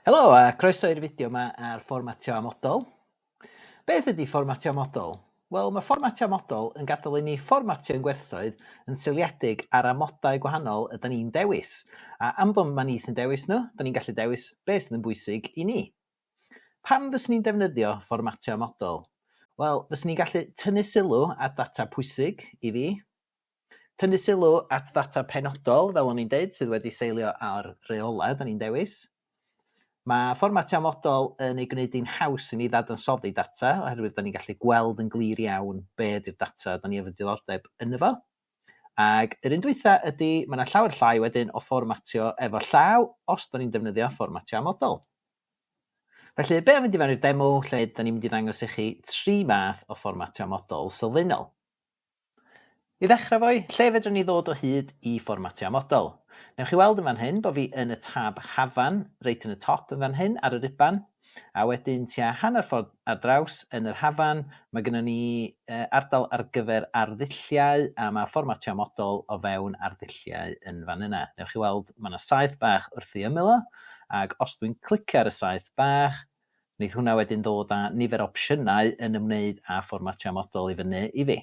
Helo a croeso i'r fideo yma ar fformatio amodol. Beth ydy fformatio amodol? Wel, mae fformatio amodol yn gadael i ni fformatio ein gwerthoedd yn seiliedig ar amodau gwahanol ydyn ni'n dewis, a am bod mae ni sy'n dewis nhw, da ni'n gallu dewis beth sydd yn bwysig i ni. Pam fyswn ni'n defnyddio fformatio amodol? Wel, fyswn ni'n gallu tynnu sylw at ddata pwysig i fi, Tynnu sylw at ddata penodol, fel o'n i'n deud, sydd wedi seilio ar reolau da ni'n dewis. Mae fformatio amodol yn ei gwneud hi'n haws i ni ddadansoddi data, oherwydd da ni'n gallu gweld yn glir iawn be ydy'r data da ni efo diddordeb ynddo fo. Ac yr un dwytha ydy, mae yna llawer llai wedyn o fformatio efo llaw os da ni'n defnyddio fformatio amodol. Felly, be am fynd i fewn i'r demo lle da ni'n mynd i ddangos i chi tri math o fformatio amodol sylfaenol. I ddechrau fo i, lle fedrwn ni ddod o hyd i fformatio amodol? Newch chi weld yn fan hyn bo fi yn y tab Hafan, reit yn y top yn fan hyn ar yr iban, a wedyn tua hanner ffordd ar draws yn yr hafan ma gynnon ni ardal ar gyfer arddulliau a ma fformatio amodol o fewn arddulliau yn fan yna. Newch chi weld ma na saeth bach wrth i ymyl o, ag os dwi'n clicio ar y saeth bach, Wneith hwnna wedyn ddod â nifer o opsiynau yn ymwneud â fformatio model i fyny i fi.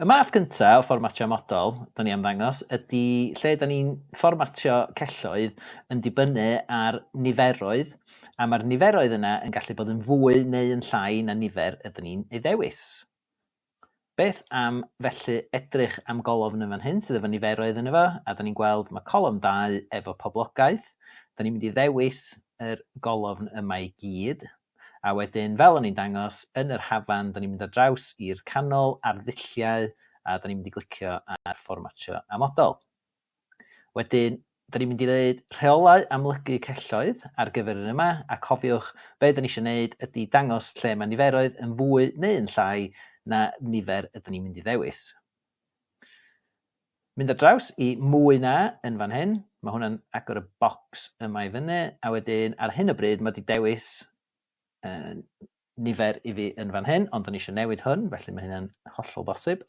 Y math gyntaf o fformatio model 'da ni am ddangos ydy lle 'da ni'n fformatio celloedd yn dibynnu ar niferoedd a mae'r niferoedd yna yn gallu bod yn fwy neu yn llai na nifer ydyn ni'n ei ddewis. Beth am felly edrych am golofn yn fan hyn sydd efo niferoedd yn efo, a da ni'n gweld mae colofn 2 efo poblogaeth. Da ni'n mynd i ddewis yr golofn yma i gyd, a wedyn fel o'n i'n dangos yn yr hafan, da ni'n mynd ar draws i'r canol ar ddulliau, a da ni'n mynd i glicio ar fformatio a model. Wedyn, da ni'n mynd i ddeud rheolau amlygu celloedd ar gyfer yr un yma, a cofiwch, be da ni eisiau neud ydi dangos lle mae niferoedd yn fwy neu yn llai na nifer ydyn ni'n mynd i ddewis. Mynd ar draws i mwy na yn fan hyn, mae hwnna'n agor y bocs yma i fyny, a wedyn ar hyn o bryd mae di dewis nifer i fi yn fan hyn, ond o'n i eisiau newid hwn, felly mae hynny'n hollol bosib.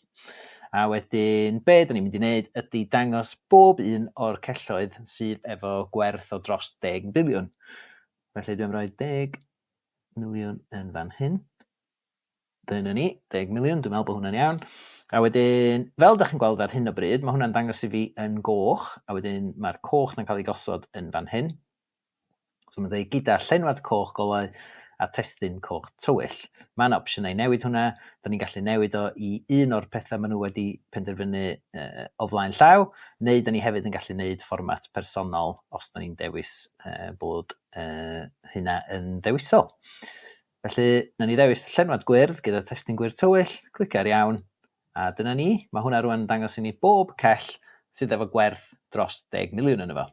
A wedyn, be dyn ni'n mynd i wneud ydy dangos bob un o'r celloedd sydd efo gwerth o dros 10 biliwn. Felly dwi'n rhoi 10 miliwn yn fan hyn. Dyna ni, 10 miliwn, dwi'n meddwl bod hwnna'n iawn. A wedyn, fel ydych chi'n gweld ar hyn o bryd, mae hwnna'n dangos i fi yn goch, a wedyn mae'r coch na'n cael ei gosod yn fan hyn. So mae'n dweud gyda llenwad coch golau a testun coch tywyll. Mae yna opsiynau i newid hwnna. Da ni'n gallu newid o i un o'r pethau maen nhw wedi penderfynu o flaen llaw, neu da ni hefyd yn gallu neud fformat personol os da ni'n dewis bod hynna yn ddewisol. Felly, na ni ddewis llenwad gwyrdd gyda testun gwyrdd tywyll, clicio ar iawn, a dyna ni. Mae hwnna rwan yn dangos i ni bob cell sydd efo gwerth dros 10 miliwn yn efo.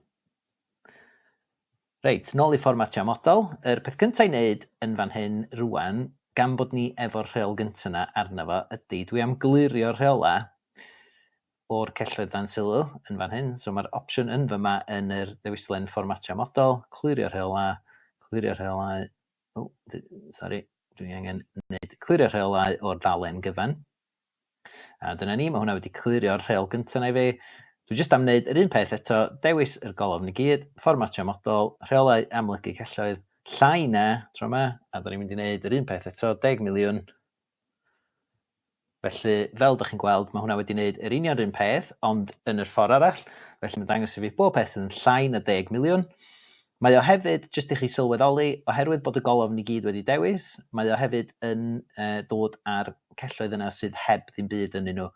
Reit, nôl i fformatio model. Yr peth cynta i neud yn fan hyn rwan, gan bod ni efo'r rheol gynta 'na arno fo, ydi dwi am glirio'r rheola o'r celloedd dan sylw yn fan hyn. So ma'r opsiwn yn fyma yn yr ddewislen fformatio model, clirio rheola, clirio rheolau, o, sori, dwi angen neud clirio rheolau o'r ddalen gyfan. A dyna ni, mae hwnna wedi clirio'r rheol gyntaf na i fi. Dwi jyst am wneud yr un peth eto, dewis yr golofn i gyd, fformatio model, rheolau amlygu celloedd, llai na, tro yma, a da ni'n mynd i wneud yr un peth eto, 10 miliwn. Felly, fel da chi'n gweld, mae hwnna wedi wneud yr union rhywun peth, ond yn yr ffordd arall. Felly mae'n dangos i fi bob peth sydd yn llai na 10 miliwn. Mae o hefyd, jyst i chi sylweddoli, oherwydd bod y golofn i gyd wedi dewis, mae o hefyd yn dod â'r celloedd yna sydd heb ddim byd ynddyn nhw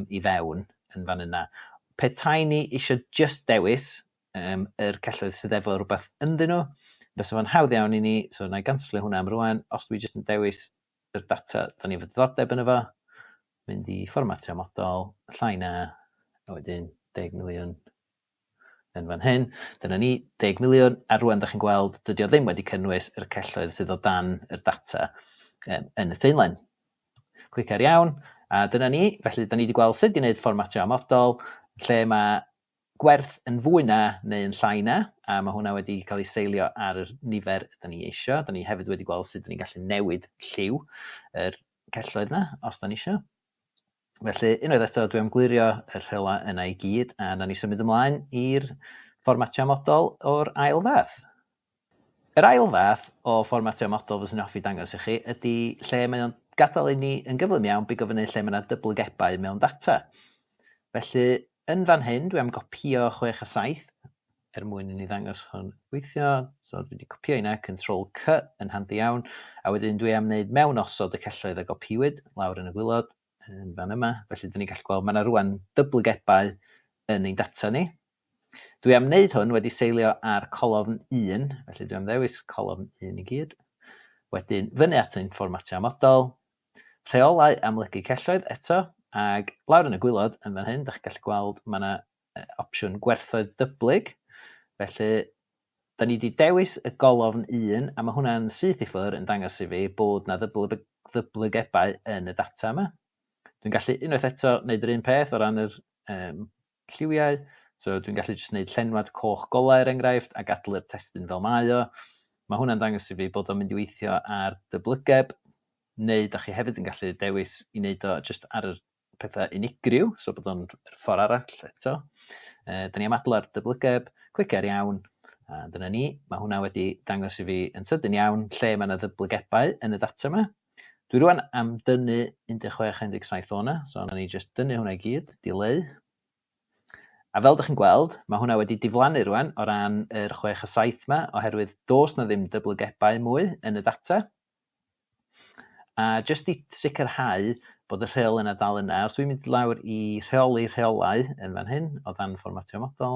i fewn yn fan yna. Petai ni eisiau jyst dewis yr celloedd sydd efo rhywbeth ynddyn nhw, fysa fo'n hawdd iawn i ni, so na i ganslio hwnna am rwan, os dwi jyst yn dewis yr data da ni efo diddordeb yn efo, mynd i fformatio model, llai na, a wedyn 10 miliwn yn fan hyn, dyna ni, deg miliwn, a rwan da chi'n gweld dydy o ddim wedi cynnwys yr celloedd sydd o dan yr data um, yn y teunlen. Clic ar iawn, a dyna ni, felly da ni wedi gweld sut i wneud fformatio amodol, lle mae gwerth yn fwy na neu yn llai na, a mae hwnna wedi cael ei seilio ar y nifer da ni eisiau. Da ni hefyd wedi gweld sut da ni'n gallu newid lliw yr celloedd yna, os da ni eisiau. Felly, unwaith eto, dwi am glirio yr rhela yna i gyd, a na ni symud ymlaen i'r fformatio modol o'r ail fath. Yr ail fath o fformatio modol fyswn i'n hoffi dangos i chi ydy lle mae o'n gadael i ni yn gyflym iawn bigo fyny lle mae yna dyblygebau mewn data. Felly, yn fan hyn, dwi am gopio 6 a 7, er mwyn i ni ddangos hwn weithio. So dwi wedi copio yna, Control C yn handi iawn. A wedyn dwi am wneud mewn osod y celloedd a gopiwyd lawr yn y gwylod yn fan yma. Felly dyn ni'n gallu gweld mae yna rwan dyblygebau yn ein data ni. Dwi am wneud hwn wedi seilio ar colofn 1, felly dwi am ddewis colofn 1 i gyd. Wedyn fyny at ein fformatio amodol, rheolau amlygu celloedd eto, ac lawr yn y gwylod yn fan hyn, da chi'n gallu gweld mae yna opsiwn gwerthoedd dyblyg. Felly, da ni wedi dewis y golofn 1, a mae hwnna'n syth i ffwrdd yn dangos i fi bod na ddyblygebau yn y data yma. Dwi'n gallu unwaith eto wneud yr un peth o ran yr um, lliwiau. So dwi'n gallu jyst wneud llenwad coch golau er enghraifft a gadlu'r testyn fel mae o. Mae hwnna'n dangos i fi bod o'n mynd i weithio ar dyblygeb, neu da chi hefyd yn gallu dewis i wneud o jyst ar yr pethau unigryw, so bod o'n ffordd arall eto. Uh, da ni am adlo'r dyblygeb, clicer iawn, a dyna ni. Mae hwnna wedi dangos i fi yn sydyn iawn lle mae yna ddyblygebau yn y data yma. Dwi rwan am dynnu 16-17 o'na, so yna ni jyst dynnu hwnna i gyd, dileu. A fel ydych chi'n gweld, mae hwnna wedi diflannu rwan o ran yr 6 a 7 yma, oherwydd dos na ddim dyblygebau mwy yn y data. A jyst i sicrhau bod y rheol yna dal yna, os dwi'n mynd lawr i rheoli rheolau yn fan hyn, o dan fformatio model,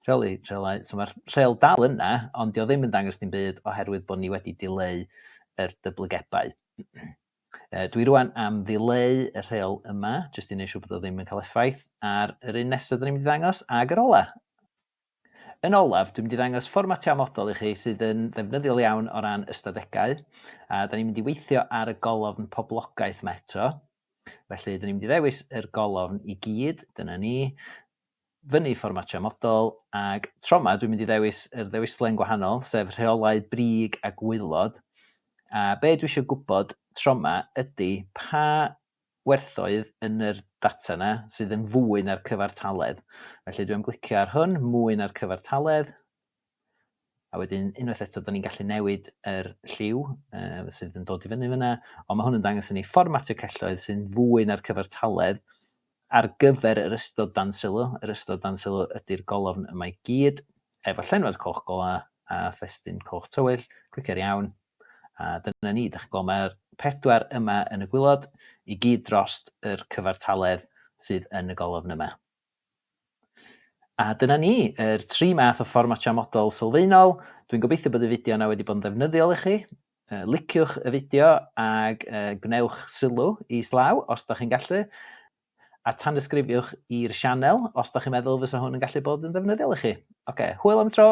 rheoli rheolau, so mae'r rheol dal yna, ond dio ddim yn dangos dim byd oherwydd bod ni wedi dileu yr dyblygebau. E, dwi rwan am ddileu y rheol yma, jyst i wneud siŵr bod o ddim yn cael effaith ar yr un nesaf dyn ni'n mynd i ddangos, ag yr ola. Yn olaf, dwi'n mynd i ddangos fformatio amodol i chi sydd yn ddefnyddiol iawn o ran ystadegau, a 'da ni'n mynd i weithio ar y golofn poblogaeth 'ma eto. Felly, 'da ni'n mynd i ddewis yr golofn i gyd, dyna ni, fyny fformatio amodol, ag tro 'ma dwi'n mynd i ddewis yr ddewislen gwahanol, sef rheolau brig a gwaelod, a be dwi eisiau gwybod tro 'ma ydy pa gwerthoedd yn yr data yna sydd yn fwy na'r cyfartaledd. Felly dwi'n glicio ar hwn, mwy na'r cyfartaledd. A wedyn unwaith eto, da ni'n gallu newid yr lliw uh, sydd yn dod i fyny fyna, ond mae hwn yn dangos i ni fformatio celloedd sy'n fwy na'r cyfartaledd ar gyfer yr ystod dan sylw. Yr ystod dan sylw ydy'r golofn yma i gyd, efo llenwad coch gola a thestyn coch tywyll. Clicio'r iawn, A dyna ni, dach chi'n gweld, mae'r pedwar yma yn y gwylod i gyd dros yr cyfartaledd sydd yn y golofn yma. A dyna ni, yr tri math o fformatio model sylfaenol. Dwi'n gobeithio bod y fideo yna wedi bod yn ddefnyddiol i chi. Uh, liciwch y fideo ag uh, gwnewch sylw i slaw os da chi'n gallu. A tan ysgrifiwch i'r sianel os da chi'n meddwl fysa hwn yn gallu bod yn ddefnyddiol i chi. Oce, okay, hwyl am y tro!